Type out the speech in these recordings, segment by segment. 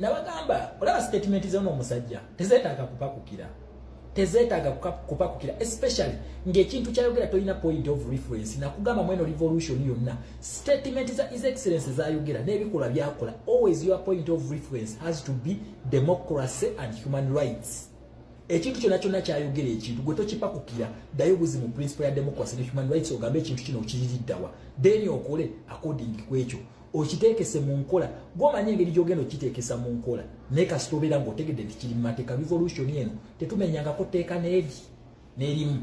nabagamba olaba statement zona omusajja tezetaaga kupakukira tezetaaga kupakukira especially ngaekintu kyayogera tolina point of reference nakugamba mweno revolution yonna statement za his excellence zayogera nebikola byakola always your point of reference has to be democracy and human rights ekintu kyona kyona kyayogera ekintu gwe tokipakukira ddayo buzi mu principle ya democracy ne human rights ogambe ekintu kino okiririddawa then okole according ku ekyo okiteekese mu nkola gwomanya engeri gyogenda okiteekesa mu nkola naye kasita obeera ngaotegedde nti kiri mu mateeka revolution eno tetumenyangako tteeka n'eri n'erimu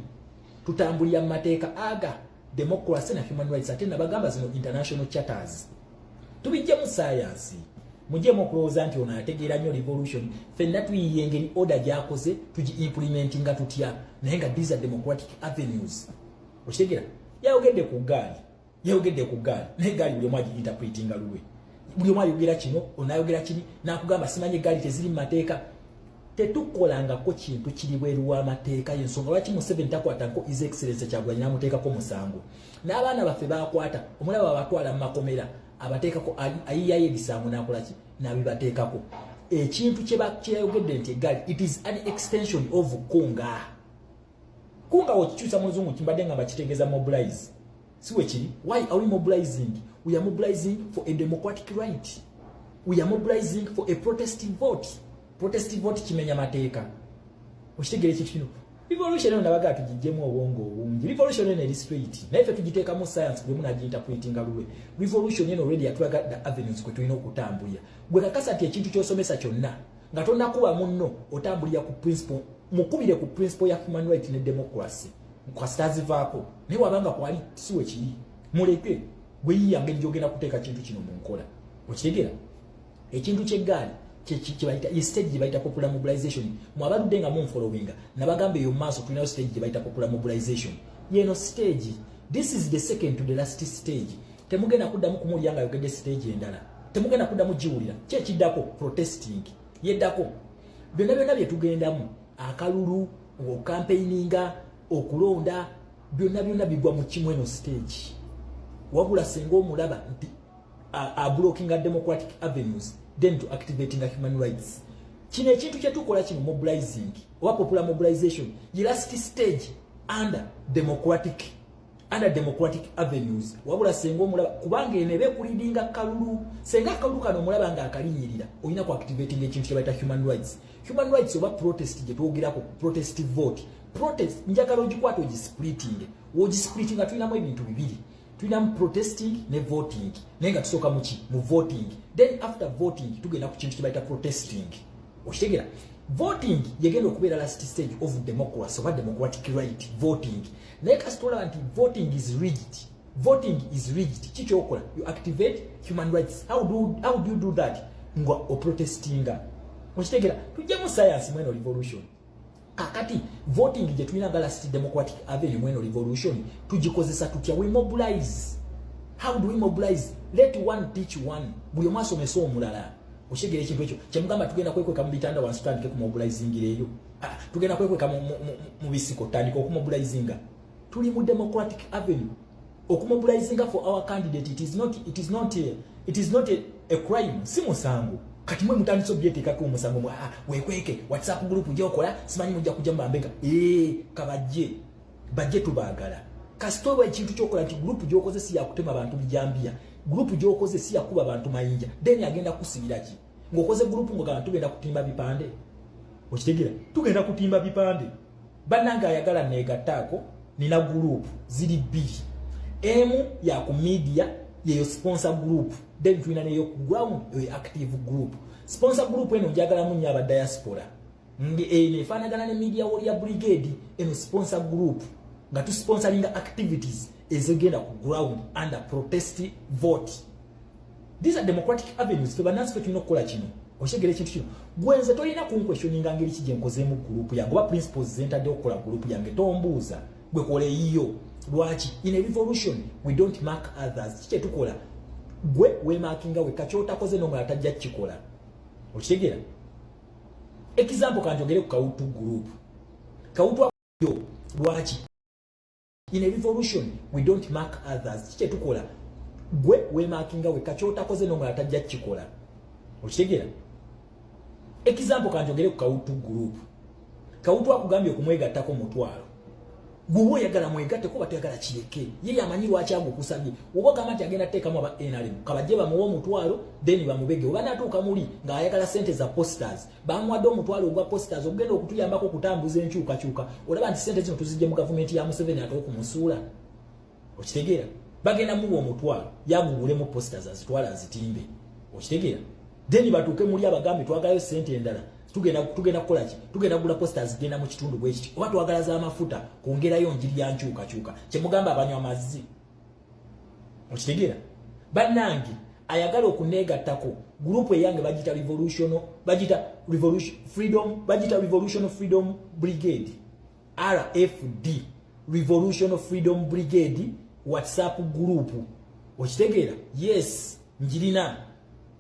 tutambulira mu mateeka aga democracy na human rights ate nabagamba zino international charters tubijjemu sayansi mujemu okulowooza nti ono ategeera nnyo revolution fenna tuyiye engeri order gyakoze tugi implimenti nga tutya naye nga these are democratic avenues okitegera yayogedde ku gaali yayogedde ku gaali naye gaali buli omu agiinterpretinga lulwe buli omu ayogera kino onayogera kiri nakugamba simanyi egaali teziri mu mateeka tetukolangako kintu kiri bweru w'amateeka yensonga lwaki museveni takwatako is excellence kyagulanyi namuteekako omusango n'abaana baffe bakwata omulaba abatwala mu makomera abateekako ayiyayo ebisango nakolaki nabibateekako ekintu kyeyayogedde nti egaali it is an extension of kunga kunga okikyusa muzungu kimbadde nga bakitegeza mobilize siwe kiri why are we mobilizing we are mobilizing for a democratic right we are mobilizing for a protestive vote protestive vote kimenya mateeka okitegere ekintu kino revolution eno nabaga atugijjemu obwongo obungi revolution eno eri straight naye fe tugiteekamu science gwe munagiyinterpretinga lulwe revolution eno already yatulaga the avenues kwe tulina okutambulira gwe kakasa nti ekintu kyosomesa kyonna nga tonakuba munno otambulira ku principle mukubire ku principle ya human right ne democracy kwasitazivaako naye wabanga kwali siwe kiri muleke gweyiya ngeri gyogenda kuteeka kintu kino mu nkola okitegera ekintu kyeggaali kyebayita estage gyebayita popular mobilization mwabaludde nga munfolowinga nabagamba eyo maaso tulinayo stage gyebayita popular mobilization yeno stage this is the second to the last stage temugenda kuddamu kumuwulira nga ayogedde stage endala temugenda kuddamu giwulira kyekiddako protesting yeddako byonna byonna byetugendamu akalulu okampeininga okulonda byonna byonna bigwa mu kimu eno stage wabula senga omulaba nti ablokinga democratic avenues then to activating a human rights kino ekintu kyetukola kino mobilizing oba popular mobilization ye last stage under democratic under democratic avenues wabula senga omulaba kubanga eno ebe kulidinga kalulu senga akalulu kano omulaba nga akalinyirira olina ku activating ekintu kyebayita human rights human rights oba protest gye twogerako protest vote protest njagala ogikwata ogispliting wogispliting nga tulinamu ebintu bibiri tulinamu protesting ne voting naye nga tusooka muki mu voting then after voting tugenda ku kintu kyebayita protesting okitegera voting yegenda okubeera last stage of democracy oba democratic right voting naye kasi tolaba nti voting is rigid voting is rigid kikyokola you activate human rights how do, how do you do that nga oprotestinga okitegera tujjamu science mweno revolution kakati voting gyetulina nga last democratic avenue mweno revolution tugikozesa tutya we mobilize how do we mobilize let one teach one buli omu asomesa omulala okitegera ekintu ekyo kyemugamba tugenda kwekweka mu bitanda wansi tutandike ku mobilizingireeyo Ah, tugenda kwekweka mu bisiko tandika okumobilizinga tuli mu democratic avenue okumobilizinga for our candidate it is not, it is not, a, it is not a, a crime si musango kati mwe mutandise obyeteekako omusango mwa ah, wekweke whatsapp group gyokola simanyi mujja kujja mubambega ee eh, kabajje bajje tubaagala kasita oba ekintu kyokola nti group gyokoze si yakutema bantu bijambiya group gyokoze si yakuba bantu mayinja then agenda kusibiraki ngokoze group ngo kana tugenda kutimba bipande okitegera tugenda kutimba bipande bananga ayagala nega tako nina group zili bili emu ya ku media ye yo sponsor group then tuina ne yo ku ground yo active group sponsor group eno njagala munya ba diaspora Nge eno eh, efanagana ne media wall ya brigade eno sponsor group nga tu sponsoring activities ezegenda ku ground under protest vote. These are democratic avenues fe banansi fe tulina okukola kino. Oshegere ekintu kino. Gwenze tolina ku questioning ngeri ki gyenkozeemu group ya ngoba principles zentadde okukola group yange tombuuza gwe kole yiyo lwaki in a revolution we don't mark others kikye tukola gwe we markinga we kachota koze no mwatajja kikola. Oshegere example kanjogere ku kawutu group kawutu yo lwaki in a revolution we don't mark others kikye tukola gwe wemakinga we kakyotakoze nomwe atajja kikola okitegera example kanjogere ku kawutu group kawutu akugambye okumwegattako mutwalo Gwoba oyagala mwegatte kuba toyagala kireke. Ye yamanyi lwaki agukusabye. Oba gamba nti agenda teekamu aba NRM. Kabajje bamuwe omutwalo then bamubege. Oba natuuka muli nga ayagala sente za posters. Bamuwadde omutwalo ogwa posters ogenda okutuyambako okutambuza enkyukakyuka. Olaba nti sente zino tuzijje mu gavumenti ya Museveni ate okumusuula. okitegeera bagenda muwa omutwalo yagugulemu posters azitwala azitimbe okitegeera then batuuke muli abagambe twagalayo sente endala tugenda tugenda kukola ki tugenda kugula posters zigenda mu kitundu bwe kiti oba twagala za mafuta kwongerayo njiri ya nkyukakyuka kye mugamba abanywa amazzi okitegeera bannange ayagala okuneegattako gurupu eyange bagita revolution bagita revolution freedom bagita revolution freedom brigade rfd revolution freedom brigade whatsapp group okitegeera yes njirina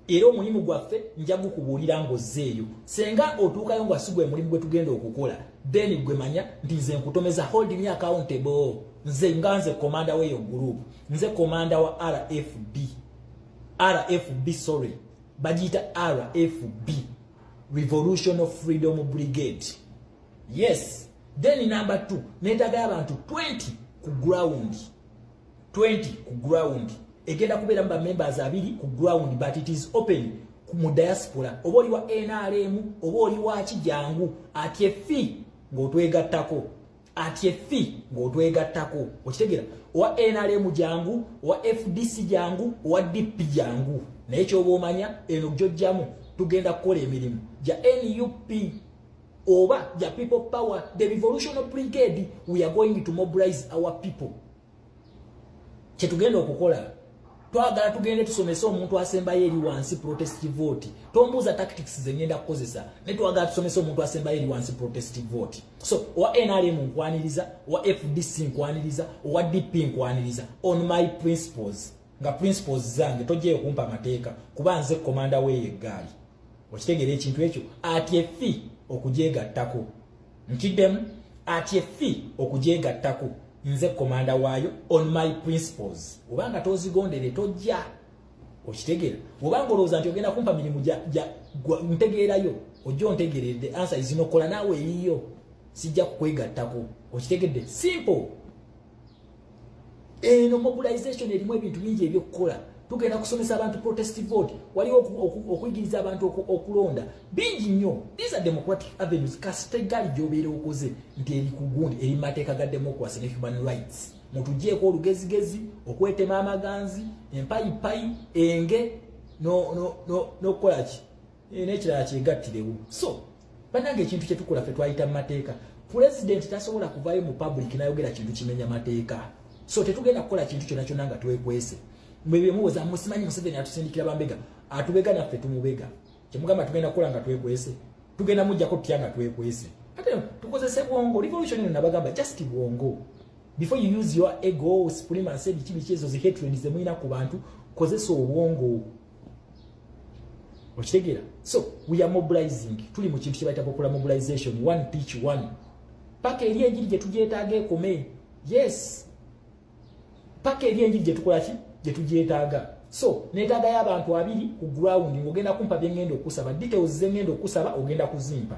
era omulimu gwaffe nja gukubuulira ngozzeeyo senga otuukayo nga sigwe mulimu gwe tugenda okukola then gwe manya nti nze nkutomeza hold me accountable nze nga nze komanda weyo group nze komanda wa rfb rfb sorry bagiyita rfb revolution of freedom brigade yes then number 2 netaga abantu 20 ku ground 20 ku ground egenda kubeera mu bamembers abiri ku ground but it is open mu diaspora oba oli wa nrm oba oli waki jangu atye fi ng'otwegattako atye fi ng'otwegattako okitegera owa nrm jangu owa fdc jangu owa dp jangu naye kyoba omanya eno gyojjamu tugenda kukola emirimu gya nup oba ya people power the revolutionary brigade we are going to mobilize our people kyetugenda okukola twagala tugende tusomese omuntu asembayo eri wansi protest vote tombuuza tactics zengenda kukozesa naye twagala tusomese omuntu asembayo eri wansi protest vote so owa nrm nkwaniriza owa fdc nkwaniriza owa dp nkwaniriza on my principles nga principles zange tojja okumpa mateeka kuba nze komanda weeyo eggaali okitegeera ekintu ekyo ati efi okugyegattako nkiddemu ati efi okugyegattako nze komanda waayo on my principles oba nga tozigondere tojja okitegeera oba nga olowooza nti ogenda kumpa mirimu ntegeerayo ojja ontegeerere the answer is nokola naawe eyiyo sijja kukwegattako okitegedde simple eno mobilization erimu ebintu bingi ebyokukola tugenda kusomesa abantu protest vote waliwo okuyigiriza abantu okulonda bingi nnyo these are democratic avenues kasitegali gyobeera okoze nti eri ku gundi eri mu mateeka ga democracy ne human rights mutugyeko olugezigezi okwetema amaganzi empayipayi enge nokukolaki no, no, no, Eh, nekirala kyegattirewo so banange ekintu kyetukola fe twayita mu mateeka pulezidenti tasobola kuvayo mu public nayogera kintu kimenya mateeka so tetugenda kukola kintu kyona kyona nga twekwese mwebemuwoza musimanyi museveni atusindikira bambega atubega naffe tumubega kyemugamba tugenda kukola nga twekwese tugenda mujjako tutya nga twekwese ate tukozese bwongo revolution ino nabagamba just bwongo before you use your ego supremacy biki biki ezo zi hatred zemulina ku bantu kozesa obwongo okitegeera so we are mobilizing tuli mu kintu kyebayita popular mobilization one pitch one paka eri enjiri gye tugyetaaga ekome yes paka eri enjiri gye tukola ki gye tugyetaaga so netaaga y'abantu abiri ku ground ng'ogenda kumpa bye ŋŋenda okusaba details ze ŋŋenda okusaba ogenda kuzimpa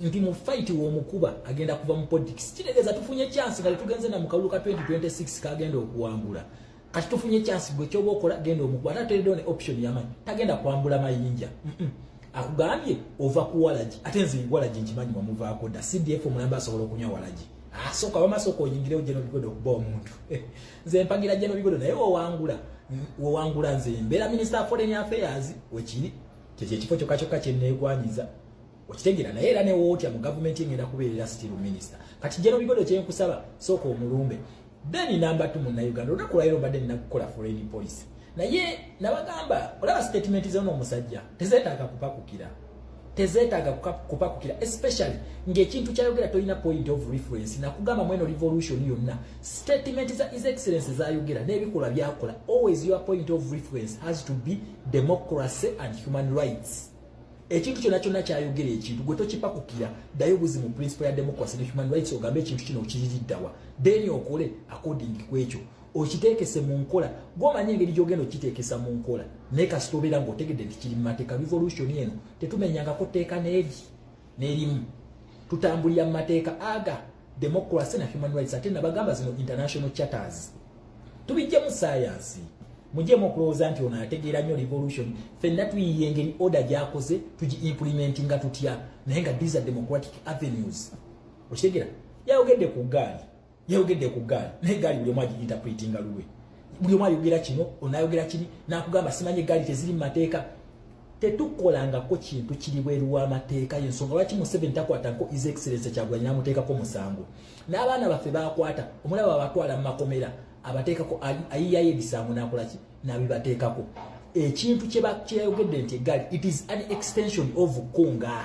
nti mu fight womukuba agenda kuva mu politics kitegeza tufunye chance kali tugenze na mukalulu ka 2026 kagenda okuwangula kati tufunye chance gwe kyoba okola genda omukuba ate ateredeo ne option yamanyi tagenda kwambula mayinja mm -mm. akugambye ova ku walagi ate nze walagi nkimanyi wamuvaako dda cdf omulamba asobola okunywa walagi asooka wamasooka oyingirewo jeno bigodo okuba omuntu nze mpagira jeno bigodo naye wowangula wowangula nze mbeera minister foreign affairs wekiri kyekyo ekifo kyokka kyokka kyenneegwanyiza okitegera naye era newootya mu gavumenti engenda kubeerera still minister kati jeno bigodo kyenkusaba sooka omulumbe then namba t munauganda olunaku lwayiro mbadde ninakukola foreign policy naye nabagamba olaba statement zona omusajja tezetaaga kupakukira tezetaaga kupakukira especially ngaekintu kyayogera tolina point of reference nakugamba mweno revolution yonna statement za is excellence zayogera nebikola byakola always your point of reference has to be democracy and human rights ekintu kyona kyona kyayogera ekintu gwe tokipakukira dayo buzi mu principle ya democracy ne human rights ogambe ekintu kino okiririddawa then okole according ku ekyo okiteekese mu nkola gwomanya engeri gyogenda okiteekesa mu nkola naye kasita obeera ngaotegedde nti kiri mu mateeka revolution eno tetumenyangako tteeka n'eri n'erimu tutambulira mu mateeka aga democracy na human rights ate nabagamba zino international charters tubijjemu sayansi mujemu okulowooza nti ono ategeera nnyo revolution fenna tuyiye engeri order gyakoze tugi implementinga tutya naye nga these are democratic avenues okitegera yayogedde ku gaali yayogedde ku gaali naye gaali buli omu agi interpretinga lulwe buli omu ayogera kino onayogera kini nakugamba simanyi egaali teziri mu mateeka tetukolangako kintu kiri bweru w'amateeka yensonga lwaki museveni takwatanko is excellence kyagulanyi namuteekako musango n'abaana baffe bakwata omulaba abatwala mu makomera abateekako ayiyayo ebisango nakolaki nabibateekako ekintu kyeyayogedde nti egali it is an extension of kunga